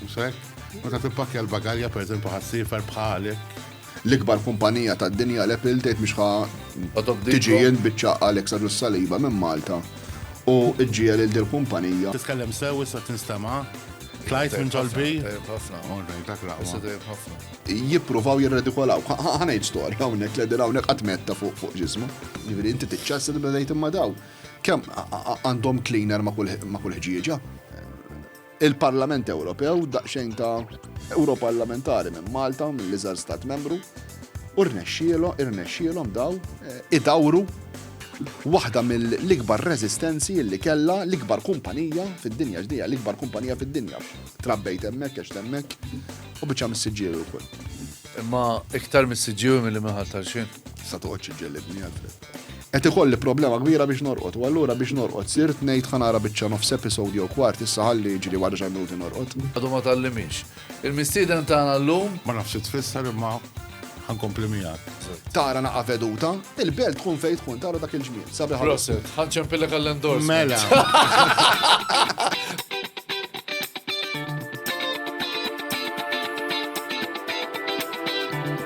Musek, ma ta' tippakja l-bagalja per eżempju ħassifer bħalek. L-ikbar kumpanija ta' dinja l epil tgħid biex ħa tiġi jien biċċa Alex Arus Saliba minn Malta u ġġiel il dil kumpanija. Titkellem sew issa tinstema' Klajt minn ġolbi. Jippruvaw jirredikolaw. Ħanajt storja hawnhekk li din hawnhekk qatt metta fuq ġismu. Jiġifieri inti tiċċassi li bdejt imma daw. Kemm għandhom cleaner ma' kull ħġieġa. Il-Parlament Ewropew, daqsxejn ta' Ewroparlamentari minn Malta, mill-iżgħar stat membru, u rnexxielhom, irnexxielhom daw eh, idawru waħda mill-ikbar rezistenzi li kella l-ikbar kumpanija fid-dinja ġdija, l-ikbar kumpanija fid-dinja. Trabbejt hemmhekk għax hemmhekk u biċċa mis-siġġieru wkoll. Imma iktar mis-siġġieru milli minħal tal-xejn. Sa toqgħodx iġġellibni għal Qed ikolli problema kbira biex norqod, u allura biex norqod sirt ngħid ħa nara biċċa nofs episode jew kwart issa ħalli jiġri wara xi minuti norqod. Għadu ma tgħallimix. Il-mistieden tagħna llum. Ma nafx xi tfisser imma ħa nkompli miegħek. Tara naqgħa veduta, il-belt tkun fejn tkun tara dak il-ġmiel. Sabiħ ħafna. Proset, ħa nċempillek għall-endors. Mela.